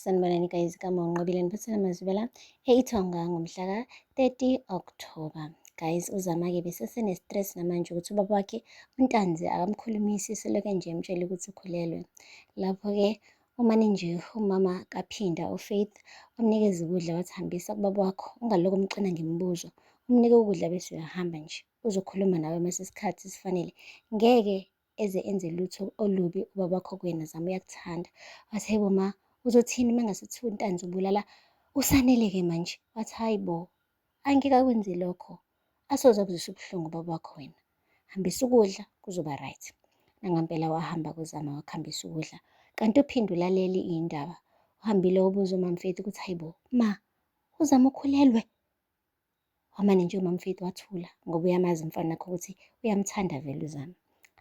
Sanibonani guys igama unqobile niphathela mazibela eithonga ngomhla ka-30 October guys uzama-ke besesene-stress namanje ukuthi ubaba wakhe untanzi akamkhulumisi seloke nje emtshele ukuthi ukhulelwe lapho-ke umane nje umama kaphinda ufaith wamnikeza ukudla wathi hambisa kubaba wakho ungalokhu umxina ngemibuzo umnike ukudla bese uyahamba nje uzokhuluma nawe uma sesikhathi sifanele ngeke eze enze lutho olubi ubaba kho kwena zama uyakuthanda wathi hayi bo ma uzothini uma ngase kuthiwa untanzi ubulala usaneleke manje wathi hayi bo angike akwenze lokho asoze akuzwisa ubuhlungu ubaba wakho wena hambisa ukudla kuzoba right nangampela wahamba kuzama wakuhambisa ukudla kanti uphinde ulaleli iy'ndaba uhambile ubuza umamfethu ukuthi hayi bo ma uzama ukhulelwe Wamane nje uMamfethu wathula ngoba uyamazi umfana wakhe ukuthi uyamthanda vele uZama.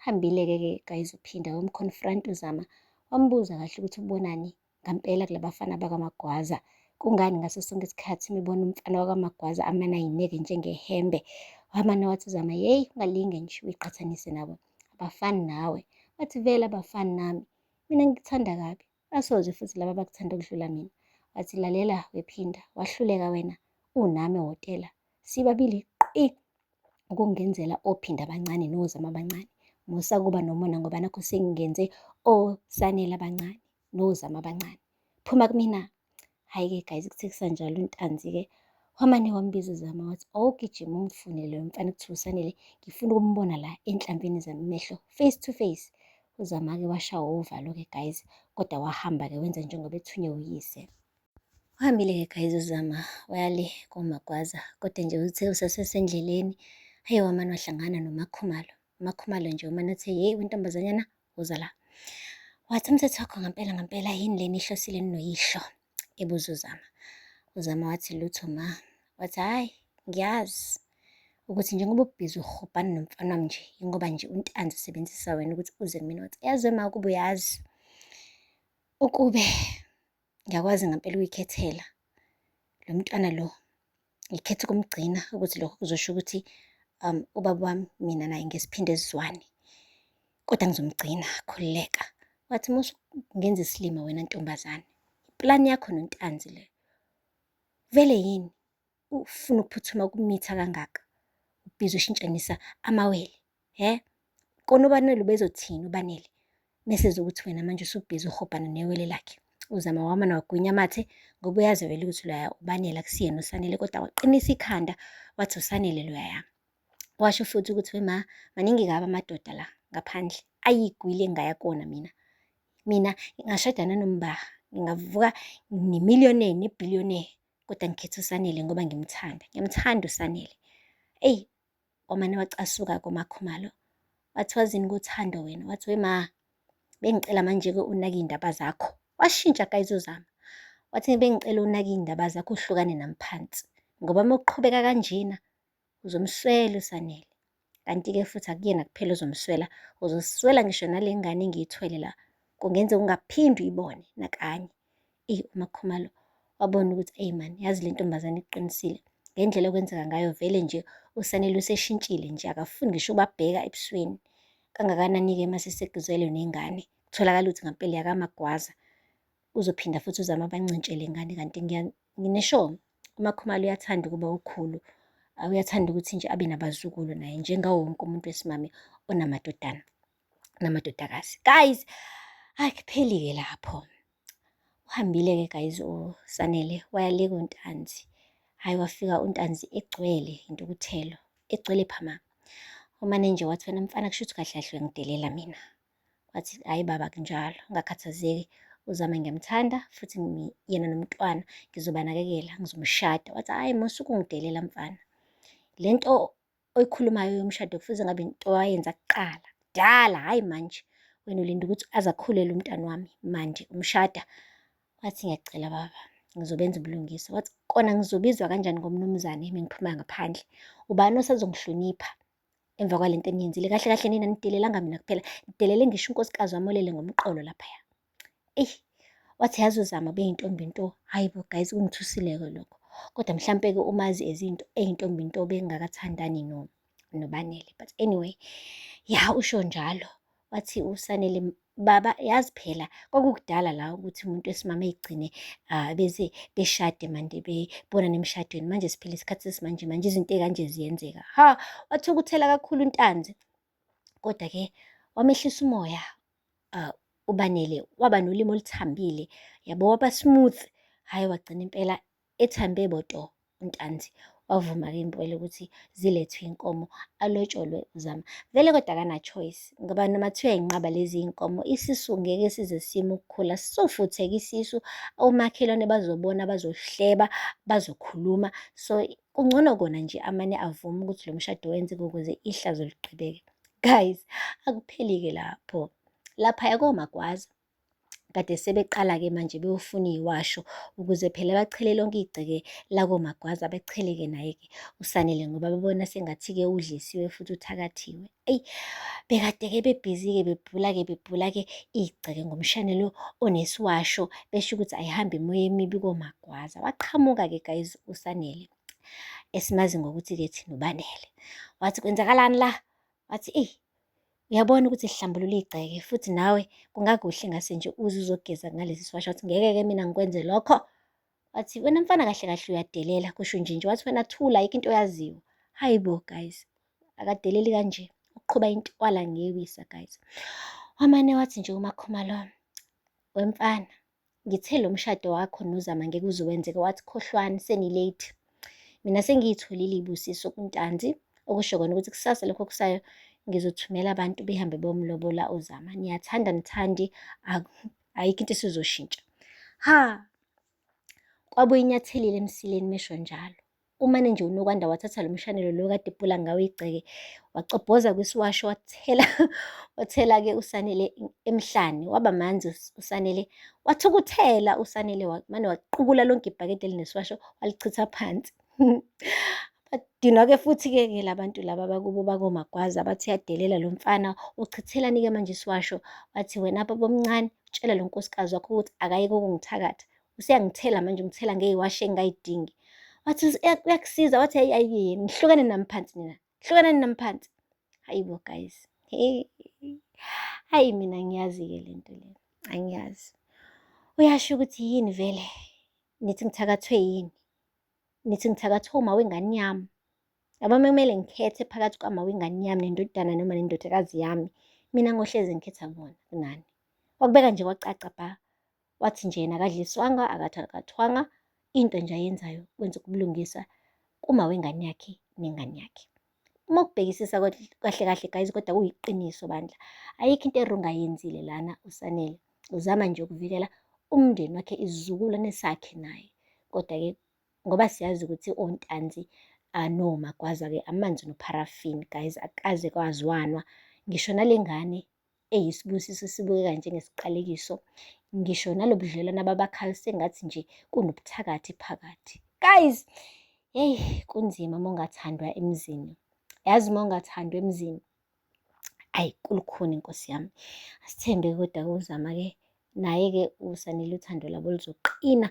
Hambile-ke ke guys uphinda wamconfront uZama wambuza kahle ukuthi ubonani ngampela kulabafana bakaMagwaza. Kungani ngaso sonke isikhathi uma ibona umfana wakaMagwaza amane ayineke njengehembe. Wamane wathi uZama yeyi ungalinge nje uyiqhathanise nabo abafani nawe. Wathi vele abafani nami mina ngikuthanda kabi Basozwe futhi laba abakuthanda ukudlula mina. Wathi, Lalela, wephinda, wahluleka wena, unami wotela. Sibabili qi ukungenzela ophinda abancane nozama abancane. Musa kuba nomona ngoba nakho sengingenze osanele abancane nozama abancane. Phuma kumina, Hhayi-ke guys kuthe kusanjalo uNtanzi-ke wamane wambiza uZama wathi awugijima ungifune loyo mfana kuthiwa uSanele ngifuna ukumbona la enhlambini zami mehlo face to face. UZama-ke washawa uvalo-ke guys kodwa wahamba-ke wenza njengoba ethunywe uyise. Uhambile-ke guys uZama wayale koMagwaza kodwa nje uthe usasesendleleni hhayi wamane wahlangana noMakhumalo. UMakhumalo nje umane uthe yeyi wentombazanyana Woza la. Wathi umthetho wakho ngempela ngempela yini lena ihlosile ninoyihlo? ebuza uZama. UZama wathi lutho ma. Wathi hhayi ngiyazi ukuthi njengoba ubhizi uhubhani nomfana wami nje yingoba nje untanzi usebenzisa wena ukuthi uze kumina wathi yazi we ma ukuba uyazi ukube ngiyakwazi ngampela ukuyikhethela lo mntwana lo ngikhetha ukumgcina ukuthi lokho kuzosho ukuthi um ubaba wami mina naye ngesiphinde sizwane kodwa ngizomgcina khululeka wathi musu ngenza isilima wena ntombazane plan yakho nontanzi le vele yini ufuna ukuphuthuma ukumitha kangaka ubhizi ushintshanisa amawele he kona ubanele ubezothini ubanele meseze ukuthi wena manje usubhizi uhobhana newele lakhe uzama wama nawagwinya amathe ngoba uyazi vele ukuthi loya ubanele akusiyena usanele kodwa waqinisa ikhanda wathi usanele loya yami washo futhi ukuthi wema maningi kabi amadoda la ngaphandle ayigwile engaya kona mina mina ngashada nanombaha ngingavuka nemillionaire nebillionaire kodwa ngikhetha uSanele ngoba ngimthanda ngiyamthanda uSanele eyi omane wacasuka komakhumalo wathi wazini kuthando wena wathi we ma bengicela manje-ke unake iy'ndaba zakho washintsha kayizozama wathi bengicela unake iy'ndaba zakho uhlukane nami phansi ngoba uma uqhubeka kanjena uzomswela uSanele. Kanti-ke futhi akuyena kuphela uzomswela, uzoswela ngisho nale ngane engiyithwele la. Kungenze ungaphindi uyibone nakanye. Eyi uMakhumalo wabona ukuthi eyi mani yazi le ntombazane iqinisile ngendlela okwenzeka ngayo vele nje uSanele useshintshile nje akafuni ngisho ubabheka ebusweni. Kangakanani-ke uma sesegizwelwe nengane kutholakala ukuthi ngampela yakamagwaza. uzophinda futhi uzame abancintshele ngane kanti nginesho umakhumalo uyathanda ukuba ukhulu uyathanda ukuthi nje abe nabazukulu naye njengawo wonke umuntu wesimame onamadodana namadodakazi guys akupheli-ke lapho uhambile-ke guys usanele wayaleka untanzi hhayi wafika untanzi egcwele intukuthelo egcwele phama umane nje wathi wena mfana kusho ukuthi kahle kahle uyangidelela mina wathi hhayi baba kunjalo ngakhathazeki uzame ngiyamthanda futhi yena nomntwana ngizobanakekela ngizomshada wathi hhayi musa ukungidelela mfana le nto oyikhulumayo yomshado kufuze ngabe into wayenza kuqala kudala hhayi manje wena ulinda ukuthi aze akhulele umntana wami manje umshada wathi ngiyacela baba ngizobenza ubulungisa wathi kona ngizobizwa kanjani ngomnumzane mengiphuma ngaphandle ubani osazongihlonipha Emva kwale nto eniyenzile kahle kahle nina nidelelanga mina kuphela nidelele ngisho unkosikazi wami olele ngomqolo laphaya eyi wathi yazi uzama beyintombi nto hhayi bo guys kungithusileke lokho kodwa mhlampe-ke umazi ezinto eyintombi nto bengakathandani no nobanele but anyway ya usho njalo Wathi uSanele, baba yazi phela kwakukudala la ukuthi umuntu wesimame egcine ah, bese beshade manje bebonana emshadweni. Manje siphila isikhathi sesimanje manje izinto ekanje ziyenzeka. Ha, wathukuthela kakhulu uNtanzi. Kodwa ke wamehlisa umoya ah, uBanele waba nolimi oluthambile yabo waba smooth. Hhayi wagcina impela Ethambe boto uNtanzi wavuma ke impela ukuthi zilethwe inkomo alotsholwe uZama. Vele kodwa kana choice ngoba noma kuthiwa inqaba lezi inkomo isisu ngeke size sime ukukhula sisofutheka isisu omakhelwane bazobona bazohleba bazokhuluma so kungcono kona nje amane avuma ukuthi lo mshado wenzeke ukuze ihlazo liqhubeke. Guys akupheli ke lapho. Lapha yakomagwaza kade sebeqala-ke manje beyofuna iyiwasho ukuze phela bachele lonke igceke lakomagwaza bechele-ke naye-ke usanele ngoba bebona sengathi-ke udlisiwe futhi uthakathiwe eyi bekade-ke bebhizi-ke bebhula-ke bebhula-ke igceke ngomshane lo onesiwasho besho ukuthi ayihambe imoya emibi komagwaza waqhamuka-ke guys usanele esimazi ngokuthi-ke thina ubanele wathi kwenzakalani la wathi eyi Uyabona ukuthi lihlambulula igceke futhi nawe kungakuhle ngase nje uze uzogeza ngalesi siwasha wathi ngeke-ke mina ngikwenze lokho. Wathi wena mfana kahle kahle uyadelela kusho nje nje wathi wena thula ayikho into oyaziyo. Hayi bo guys akadeleli kanje uqhuba intwala ngewisa guys. Wamane wathi nje uMakhumalo wemfana ngithe lo mshado wakho nozama ngeke uze wenzeke wathi khohlwani senilate mina sengiyitholile ibusiso kuntanzi okusho kona ukuthi kusasa lokho kusayo ngizothumela abantu behambe bomlobola uzama niyathanda nithandi ayikho into esizoshintsha ha kwabuye inyathelile emsileni mesho njalo Umane nje uNokwanda wathatha lo mshanelo lo kade ebhula ngawo igceke, wacobhoza kwisiwasho wathela wathela-ke uSanele emhlane. Waba manzi uSanele, wathukuthela uSanele wamane waqukula lonke ibhakede elinesiwasho walichitha phansi. Badinwa-ke futhi-ke ke labantu laba bakubo bakomagwaza bathi uyadelela lo mfana uchithelani-ke manje isiwasho wathi wena babomncane tshela lo nkosikazi wakho ukuthi akayeke ukungithakatha useyangithela manje ungithela ngeyiwashi engingayidingi wathi uyakusiza wathi hayi ayiye nihlukane nami phansi mina hlukanani nami phansi hayi bo guys hayi mina ngiyazi-ke le nto le angiyazi uyasho ukuthi yini vele nithi ngithakathwe yini nithi ngithakathwe uma wengane yami yabo kumele ngikhethe phakathi kwama wengane yami nendodana noma nendodakazi yami mina ngohlezi ngikhetha bona kunani wakubeka nje kwacaca bha wathi nje yena akadliswanga akathakathwanga into nje ayenzayo kwenza ukubulungisa kuma wengane yakhe nengane yakhe uma ukubhekisisa kahle kahle guys kodwa kuyiqiniso bandla ayikho into erong ayenzile lana usanele uzama nje ukuvikela umndeni wakhe isizukulwane sakhe naye kodwa-ke ngoba siyazi ukuthi ontanzi anomagwaza-ke amanzi nopharafini guys akaze kwazwanwa ngisho nale ngane eyisibusiso esibukeka njengesiqalekiso, ngisho nalobudlelwane ababakhayo sengathi nje kunobuthakathi phakathi. Guys, hey kunzima uma ungathandwa emzini. Yazi uma ungathandwa emzini, ayi kulukhuni nkosi yami. Asithembe kodwa kuzama-ke naye-ke usanele uthando labo luzoqina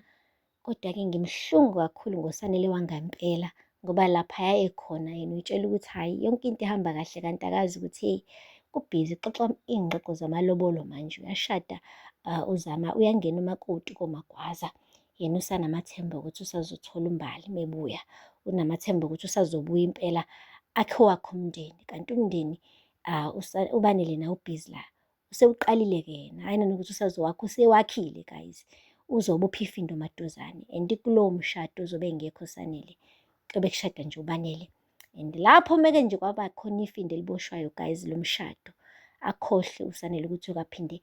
Kodwa-ke ngimhlungu kakhulu ngoSanele wangampela ngoba laphaya ekhona yena uyitshela ukuthi hhayi yonke into ihamba kahle kanti akazi ukuthi hey kubhizi xoxa iy'ngxoxo zamalobolo manje uyashada uh, uzama uyangena umakoti komagwaza yena usanamathemba ukuthi usazothola umbali mebuya unamathemba ukuthi usazobuya impela akhe wakho umndeni kanti umndeni uh, ubanele na ubhizi la usewuqalile-ke yena hhayi nanokuthi usazowakho usewakhile guys uzobe uphifindo maduzane and kulowo mshado uzobe engekho sanele kuyobe kushada nje ubanele and lapho meke nje kwaba khona ifindo eliboshwayo guys lo mshado akhohle usanele ukuthi okaphinde